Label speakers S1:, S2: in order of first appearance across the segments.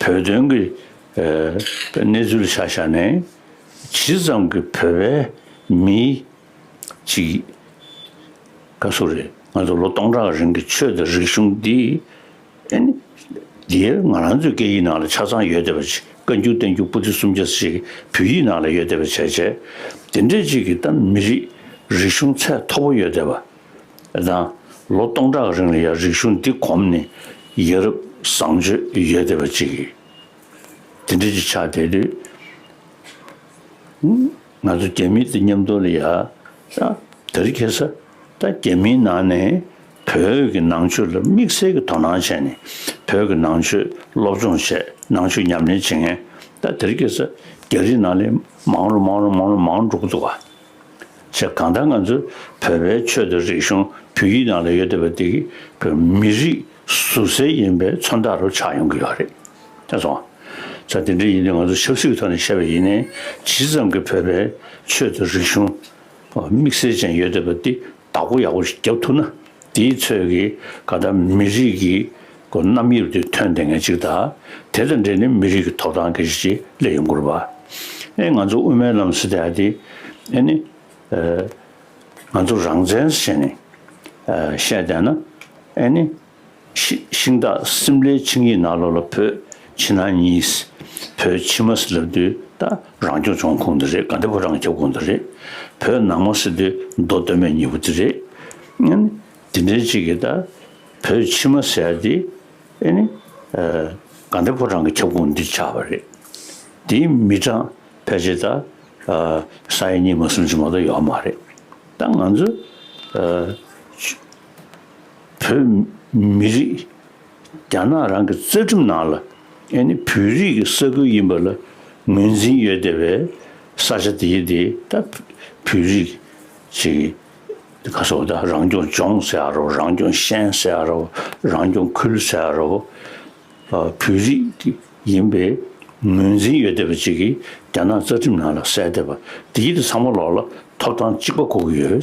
S1: བོད་དོན་གྱི་གནས་ཚུལ་ཆ་ཤས་ནས་ཇི་ཙམ་གྱི་བོད་པའི་མི་གཅིག་ག་སུ་རེད་ང་ཚོ་ལོ་སྟོང་ཕྲག་རིང་གི་ཆོས་དང་རིག་གཞུང་འདི་འདིར་ང་རང་ཚོའི་སྐད་ཡིག་ནང་ལ་ཆ་ཚང་ཡོད་བསྡད་པ་བཀའ་འགྱུར་བསྟན་འགྱུར་པོ་ཏི་སུམ་བརྒྱ་ཞིག་བོད་ཡིག་ནང་ལ་ཡོད་བསྡད་པ་བྱས་བྱས་དེ་འདྲའི་ཅིག་གིས་ད་མི་རིགས་རིག་གཞུང་ཚད་མཐོ་པོ་ཡོད་བསྡད་པ། དང། ལོ་སྟོང་ཕྲག་རིང་ལ་ཡང་རིག་གཞུང་འདི་གོམས་ནས་ཡ་རབས་བཟང་སྤྱོད་ཡོད་བསྡད་པ་ཅིག་ཡིན། དེ་འདྲ་ཅིག་ཆགས་བསྡད་དུས། ང་ཚོ་རྒྱ་མི་དང་མཉམ་འདུག་ལ་ཡ་དར་འཁྱེར་ས་དང་རྒྱ་མིའི་ནང་ནས་བོད་ཀྱི་ནང་ཆོས་ལ་དམིགས་བསལ་གྱི་དོ་སྣང་བྱས་ནས་བོད་ཀྱི་ནང་ཆོས་སློབ་སྦྱོང་བྱས་ནང་ཆོས་ཉམས་ལེན་བྱེད་མཁན་དར་འཁྱེར་ས་རྒྱ་རིགས་ནང་ལས་མང་རུ་མང་རུ་མང་རུ་མང་འགྲོ་གི་འདུག་ག། ཆེས་གང་ལྟར་ང་ཚོ་བོད་པའི་ཆོས་དང་རིག་གཞུང་བོད་ཡིག་ནང་ལ་ཡོད་བསྡད་པ་འདི་བོད་མི་རིགས་ཟུར་གསལ་ཡིན་པའི་མཚོན་རྟགས་རུ་ཆགས་ཡོང་གི་ཡོད་རེད་དེ་སོང། ད་དེ་འདྲ་ཡིན་དུས་ང་ཚོ་ཆབ་སྲིད་ཀྱི་ཐོག་ནས་བཤད་པ་ཡིན་ནའི་ཇི་ཙམ་གྱི་བོད་པའི་ཆོས་དང་རིག་གཞུང་དམིགས་བསལ་ཅན་ཡོད་བསྡད་པ་འདི་བདག་པོ་ཡག་པོ་ཞིག་བརྒྱབ་ཐུབ་ན་དེའི་ཚོད་ཀྱིས་ཀ་ད་མི་རིགས་ཀྱི་སྒོ་རྣམ་དབྱེ་བ་དེ་ཐོན་བསྡད་མཁན་གཅིག་དང་དེ་དང་འབྲེལ་ནས་མི་རིགས་ཀྱི་ཐོབ་ཐང་གི་གཞི་ཆེ་ལེ་ཡོང་དགོས་པ་ཨེ་ང་ཚོ་དབུ་མའི་ལམ་ཟེར་ཏེ་ཨ་དེ་ཨེ་ནི་ཨེ་ང་ཚོ་རང་བཙན་ཟེར་ནས་ཨེ་བཤད་བསྡད་ན་ཨེ་ནི། ཤིང་སྟག་སིམ་ལའི་ཆིངས་ཡིག་ནག་ལྷོ་ལ་བོད་ཕྱི་ནང་གཉིས། བོད་ཕྱི་མ་སི་ལབ་དུས་ད་རང་སྐྱོང་བྱུང་ཁུངས་འདི་རེད་ག་འདི་བོད་རང་ཁྱབ་ཁུངས་འདི་རེད། བོད་ནང་མ་སི་དུས་མདོ་སྟོད་སྨད་གཉིས་པོ་འདི་རེད། དེ་འདྲའི་ཅིག་གིས་ད་བོད་ཕྱི་མ་ཟེར་དེ་ག་འདི་བོད་རང་གི་ཁྱབ་ཁུངས་འདི་ཆགས་པ་རེད། དེ་མི་དྲང་ཕལ་ཆེར་ད་ས་ཡ་གཉིས་མ་སུམ་ཅུ་མ་གཏོགས་ཡོད་མ་རེད། ད་ང་ཚོ། བོད་མི་རིགས་རྒྱ་ནག་རང་གི་རྩ་ཁྲིམས་ནང་ལ་ཨེ་ནི་བོད་རིགས་ཀྱི་ས་ཁུལ་ཡིན་པ་ལ་ངོས་འཛིན་ཡོད་དེ་བས་ས་ཆ་དེའི་དེ་ད་བོད་རིགས་ཀྱི་ག་སོ་ད་རང་སྐྱོང་ལྗོངས་ཟེར་ཡ་རོ་རང་སྐྱོང་ཤན་ཟེར་ཡ་རོ་རང་སྐྱོང་ཁུལ་ཟེར་ཡ་རོ་བོད་རིགས་ཀྱི་ཡིན་པའི་ངོས་འཛིན་ཡོད་དེ་བས་ཅིག་གིས་རྒྱ་ནག་རྩ་ཁྲིམས་ནང་ལ་གསལ་དེ་བ་དེའི་དེ་ཚང་མ་ལོག་ལ་ཐོབ་ཐང་གཅིག་པ་གོ་གི་ཡོད།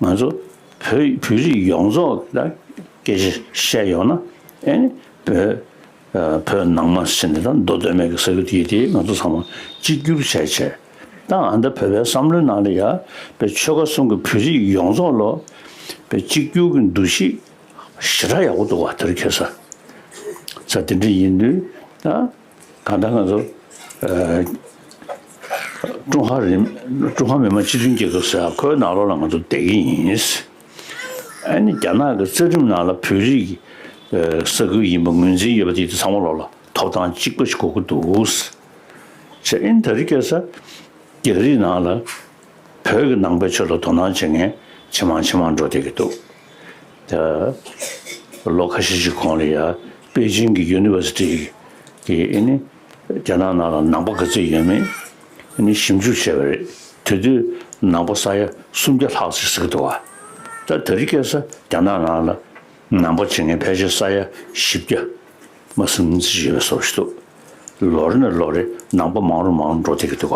S1: ང་ཚོ་བོད་བོད་རིགས་ཡོངས་རྫོགས་ལ་སྐད་ཆ་བཤད་ཡོང་ན་ཨེ་ནི་བོད་བོད་ནང་མ་ཟེར་ནས་ད་མདོ་སྟོད་སྨད་ཀྱི་ས་ཁུལ་དེ་དེ་ང་ཚོ་ཚང་མ་གཅིག་གྱུར་བྱས་བྱས་ད་ཨ་མདའ་བོད་པའི་བསམ་བློའི་ནང་ལ་ཡ་བའི་ཆོལ་ཁ་གསུམ་གྱི་བོད་རིགས་ཡོངས་རྫོགས་ལོ་བའི་གཅིག་གྱུར་གྱི་འདུ་ཤེས་ཞེ་དྲག་ཡག་པོ་འདུག་བ་དེ་རུ་ཁྱེར་ས་ས་དེ་འདྲ་ཡིན་དུས་ད། གང་ལྟར་ང་ཚོ་ཀྲུང་ཧྭ་རིམ་ཀྲུང་ཧྭ་མི་དམངས་སྤྱི་མཐུན་རྒྱལ་ཁབ་ཟེར་བ་ཁོའི་ནང་ལོགས་ལ་ང་ཚོ་བསྡད་ཀྱི་ཡིན། ཨ་ནི་རྒྱ་ནག་གི་རྩ་ཁྲིམས་ནང་ལ་བོད་རིགས་ཀྱི་ས་ཁུལ་ཡིན་པ་ངོས་འཛིན་ཡོད་པ་དེ་དེ་ཚང་མ་ལོགས་ལ་ཐོབ་ཐང་གཅིག་པ་ཞིག་གོ་གི་འདུག། ཨིན་ད་རི་ཀ་ས་རྒྱག་རིགས་ནང་ལ། བོད་ཀྱི་ནང་པའི་ཆོས་ལ་དོ་སྣང་བྱེད་མཁན་ཇེ་མང་ཇེ་མང་འགྲོ་བསྡད་ཀྱི་འདུག་ད། ལོ་ཁ་ཤས་ཤིག་གོང་ལ་ཡང་པེ་ཅིང་གི University གི་ཨེ་ནི་རྒྱ་ནག་ནང་ལ་ནང་པ་ག་ཚོད་ཡོད་མེད་ཨེ་ནི་ཞིབ་འཇུག་བྱས་པ་རེད་དེ་དུས་ནང་པ་ས་ཡ་སུམ་བརྒྱ་ལྷག་ཅིག་ཟིག་འདུག་ཨ། ད་ད་རི་སྐད་ས་རྒྱ་ནག་ནང་ལ་ནང་པ་བྱེད་མཁན་ཕལ་ཆེར་ས་ཡ་བཞི་བརྒྱ། མ་སུམ་བརྩེགས་བཞི་ལ་སོགས་བཞི་འདུག། ལོ་རེ་ནས་ལོ་རེ་ནང་པ་མང་རུང་མང་རུང་འགྲོ་བསྡད་ཀྱི་འདུག་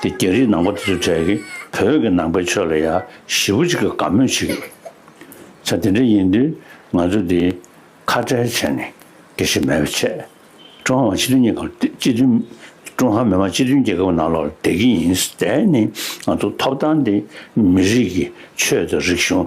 S1: ག་དེ་རྒྱ་རིའི་ནང་པ་དེ་ཚོའི་གྲས་ཀྱིས་བོད་ཀྱི་ནང་པའི་ཕྱོགས་ལ་ཡ་ཞི་བོ་ཅིག་གི་དགའ་མོས་བྱེད་ཀྱི་ཡོད། ཚ་དེ་འདྲ་ཡིན་དུས་ང་ཚོ་དེ་ཁ་བྲལ་བྱས་ནས་དགེ་བཤེས་མེད་པའི་ཆེད་ཀྲུང་ཧྭ་མི་དམངས་སྤྱི་མཐུན་རྒྱལ་ཁབ་སྤྱི་མཐུན་ཀྲུང་ཧྭ་མི་དམངས་སྤྱི་མཐུན་རྒྱལ་ཁབ་ནང་ལོག་ལ་བསྡད་ཀྱི་ཡིན། དེ་ནི་ང་ཚོ་ཐོབ་ཐང་དེ་མི་རིགས་ཀྱི་ཆོས་དང་རིག་གཞུང་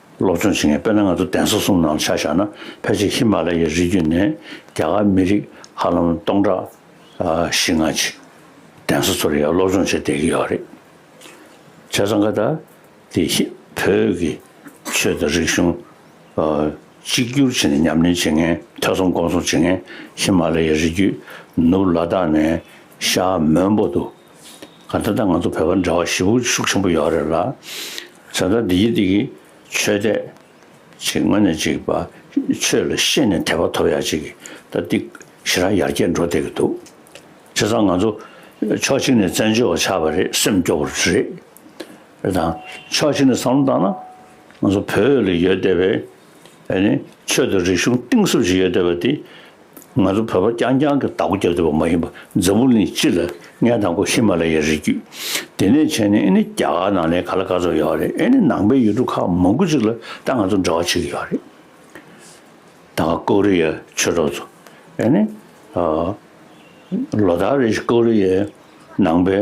S1: སློབ་སྦྱོང་བྱེད་མཁན་དཔེར་ན་ང་ཚོ་གདན་ས་གསུམ་ནང་ཆ་བཞག་ན་ཕལ་ཆེར་ཧི་མ་ལ་ཡའི་རི་རྒྱུད་ནས་རྒྱ་གར་མི་རིགས་ཧ་ལམ་སྟོང་ཕྲག་བཞི་ལྔ་ཅིག་གདན་ས་ཚོར་ཡང་སློབ་སྦྱོང་བྱེད་བསྡད་ཀྱི་ཡོད་རེད། བྱས་ཙང་ཀ་ད་དེ་བོད་ཀྱི་ཆོས་དང་རིག་གཞུང་གཅིག་གྱུར་བྱེད་ནས་ཉམས་ལེན་བྱེད་མཁན་ཐོས་བསམ་སྒོམ་གསུམ་བྱེད་མཁན་ཧི་མ་ལ་ཡའི་རི་རྒྱུད་ནུབ་ལ་དྭགས་ནས་ཤར་མོན་པོ་འདུག་ག་ད་ལྟ་ང་ཚོ་བོད་པ་འདྲ་བ་ཞི་བུ་ཤུགས་ཆེན་པོ་ཡོད་རེད་ལ། བཟའ་ཟླ་འདི་ཡི་འདི་གི་ཆོས་དད། ཅིག་སྔོན་ནས་ཅིག་བ་ཆོས་ལ་ཤེས་ནས་དད་པ་ཐོབ་ཡག་ཅིག་གི་ད་འདི་ཞི་རག་ཡར་རྒྱས་འགྲོ་བསྡད་གི་འདུག་བྱས་ཙང་ང་ཚོ་ཕྱོགས་གཅིག་ནས་བཙན་བྱོལ་བ་ཆགས་པ་རེད་སེམས་སྐྱོ་བོ་རེད་དང་ཕྱོགས་གཅིག་ནས་བསམ་བློ་བཏང་ན་ང་ཚོ་བོད་ལ་ཡོད་བསྡད་པའི་ཆོས་དང་རིག་གཞུང་གཏིང་ཟབ་ཅིག་ཡོད་བསྡད་པ་འདི། ང་ཚོ་བོད་པ་རྐྱང་རྐྱང་གིས་བདག་པོ་རྒྱབ་བསྡད་པ་མ་ཡིན་པར་འཛམ་བུ་གླིང་སྤྱི་ལ་ངས་དང་པོ་ཧི་མ་ལ་ཡའི་རི་རྒྱུད་དེ་ནས་བྱས་ནས་ཨེ་ནི་རྒྱ་གར་ནང་ལའི་ག་ལ་ག་ཚོར་ཡོད་པ་རེད་ཨེ་ནི་ནང་པའི་ཡུལ་གྲུ་ཁག་མང་དགུ་ཅིག་ལ་ད་ང་ཚོ་འབྲེལ་བ་བྱེད་ཀྱི་ཡོད་རེད། ད་ང་ཀོ་རི་ཡའི་ཆོས་གྲོགས་ཚོ་ཨེ་ནི། ལོ་ལྟར་རེ་བཞིན་ཀོ་རི་ཡའི་ནང་པའི།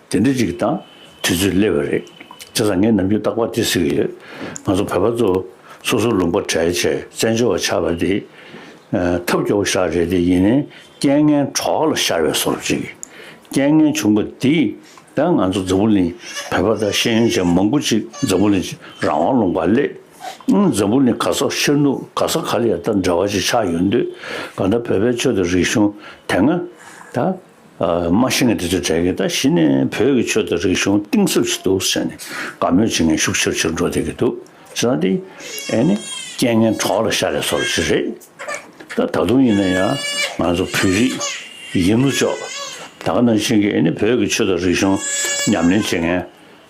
S1: དེ་འདྲ་ཅིག་དང་དུས་ཚོད་སླེབས་པ་རེད། དེ་ཙམ་ངས་ནམ་རྒྱུན་རྟག་པར་དེ་ཟེར་གྱི་ཡོད། ང་ཚོ་བོད་པ་ཚོ་སོ་སོར་ལུང་པ་བྲལ་ཆེད་བཙན་བྱོལ་བ་ཆགས་པ་དེ། ཐབས་སྐྱོ་བོ་ཞག་རེ་དེ་ཡིན་ནའི་རྐྱེན་ངན་གྲོགས་ལ་ཤར་བའི་སོར་ཅིག། རྐྱེན་ངན་བྱུང་པ་དེས་ད་ང་ཚོ་འཛམ་བུ་གླིང་བོད་པ་དང་ཤེས་ཡོན་ཅན་མང་པོ་ཅིག་འཛམ་བུ་གླིང་རང་དབང་ལུང་པར་སླེབས། འཛམ་བུ་གླིང་ག་སོག་ཤར་ནུབ་ག་སོག་ག་ལ་ཡང་ད་འདྲ་བ་ཅིག་ཆགས་ཡོད་འདོད། གང་ལྟར་བོད་པའི་ཆོས་དང་རིག་གཞུང་དེ་སྔ་ད། མ་ཤི་ངས་དེ་ཚོའི་གྲས་ཀྱི་ད་གཞི་ནས་བོད་ཀྱི་ཆོས་དང་རིག་གཞུང་གཏིང་ཟབ་ཞིག་འདུག་ཟེར་ནས་དགའ་མོས་བྱེད་མཁན་ཤུགས་ཆེར་ཆེར་འགྲོ་བསྡད་ཀྱི་འདུག་ཟེར་ན་དེ་ཨེ་ནི་རྐྱེན་ངན་གྲོགས་ལ་ཤ་རེ་སོགས་ལ་ཅི་རེད། ད་ད་དུང་ཡིན་ན་ཡང་ང་ཚོ་བོད་རིགས་ཡིན་ལོ་ཅོག་ད་ག་ནང་བཞིན་གྱི་ཨེ་ནི་བོད་ཀྱི་ཆོས་དང་རིག་གཞུང་ཉམས་ལེན་བྱེད་མཁན་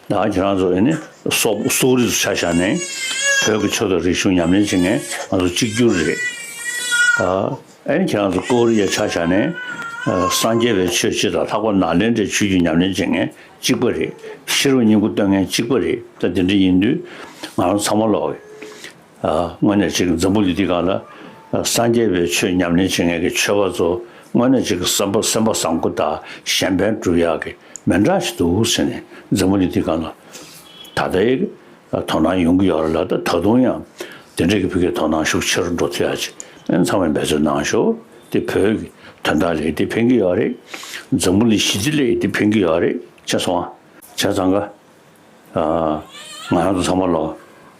S1: ད་ཁྱེད་རང་ཚོ་ཨེ་ནི་སོག་སོག་རིགས་སུ་ཆ་བཞག་ནས་བོད་ཀྱི་ཆོས་དང་རིག་གཞུང་ཉམས་ལེན་བྱེད་མཁན་ང་ཚོ་གཅིག་གྱུར་རེད། ཨན་ཁྱེད་རང་ཚོ་ཀོའུ་རི་ཡའི་ཆ་བཞག་ནས་སངས་རྒྱས་པའི་ཆོས་སྤྱི་དང་ལྷག་པར་ནཱ་ལེནྡྲའི་ཆོས་བརྒྱུད་ཉམས་ལེན་བྱེད་མཁན་གཅིག་པ་རེད། ཤི་རུ་སྙིང་ཁུ་གཏོད་མཁན་གཅིག་པ་རེད་ད་དེ་འདྲ་ཡིན་དུས་ང་རང་ཚང་མ་ལོག་གི། དངོས་གནས་ཅིག་འཛམ་བུ་གླིང་འདི་ག་ལ་སངས་རྒྱས་པའི་ཆོས་ཉམས་ལེན་བྱེད་མཁན་གྱི་ཆོས་པ་ཚོ་དངོས་གནས་ཅིག་སེམས་པ་སེམས་པ་བཟང་པོ་དག་གཞན་ཕན་སྒྲུབ་ཡག་གི་མི་འདྲ་ཞིག་འདུག་ཟེར་ནས་འཛམ་བུ་གླིང་འདི་ག་ལ་ད་ལྟའི་དོ་སྣང་ཡོང་གི་ཡོད་རེད་ལ་ད་དུང་ཡང་དེ་འབྲེལ་གྱི་བོད་སྐད་དོ་སྣང་ཤུགས་ཆེ་རུ་འགྲོ་ཐུབ་ཡག་ཅིག་ཨེ་ཚང་བའི་འབད་རྩོལ་གནང་ཞོར་དེ་བོད་ཀྱི་དོན་དག་ལས་དེ་ཕན་གྱི་ཡོད་རེད། འཛམ་བུ་ལི་གཞི་རྩི་ལས་དེ་ཕན་གྱི་ཡོད་རེད་ཅེས་སོང་བྱས་ཙང་ཀ། ང་རང་ཚོ་ཚང་མ་ལོ་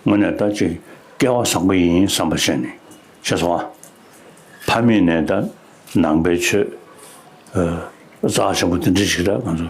S1: ངོ་ནས་ད་ཅིག་སྐལ་བ་བཟང་པོ་ཡིན་བསམ་པ་བྱས་ནས་བྱས་སོང་བ། ཕ་མེས་ནས་ད་ནང་པའི་ཆོས་རྩ་ཆེན་པོ་དེ་འདྲི་ཞིག་ད་ང་ཚོར།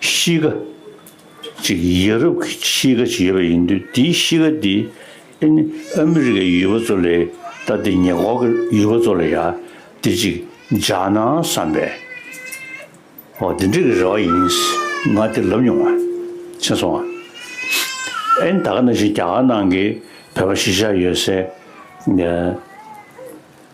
S1: གཤིས་ཀ་ཅིག་ཡ་རབས་ཀྱི་གཤིས་ཀ་ཅིག་ཡོད་པ་ཡིན་དུས་དེའི་གཤིས་ཀ་དེ་ཨེ་ནི་ཨ་མི་རི་ཀའི་ཡུལ་བ་ཚོ་ལས་ད་ལྟའི་ཉེ་འཁོར་གྱི་ཡུལ་བ་ཚོ་ལ་ཡང་དེ་ཅིག་འཇགས་ན་བསམ་པས། འོ་དེ་འདྲས་ཀྱི་རེ་བ་ཡིན། ང་དེ་ལབ་མྱོང། མཆན་སོང། ཨེ་ནི་ད་ག་ནང་བཞིན་རྒྱ་གར་ནང་གི་བོད་པ་གཞིས་ཆགས་ཡོད་སའི།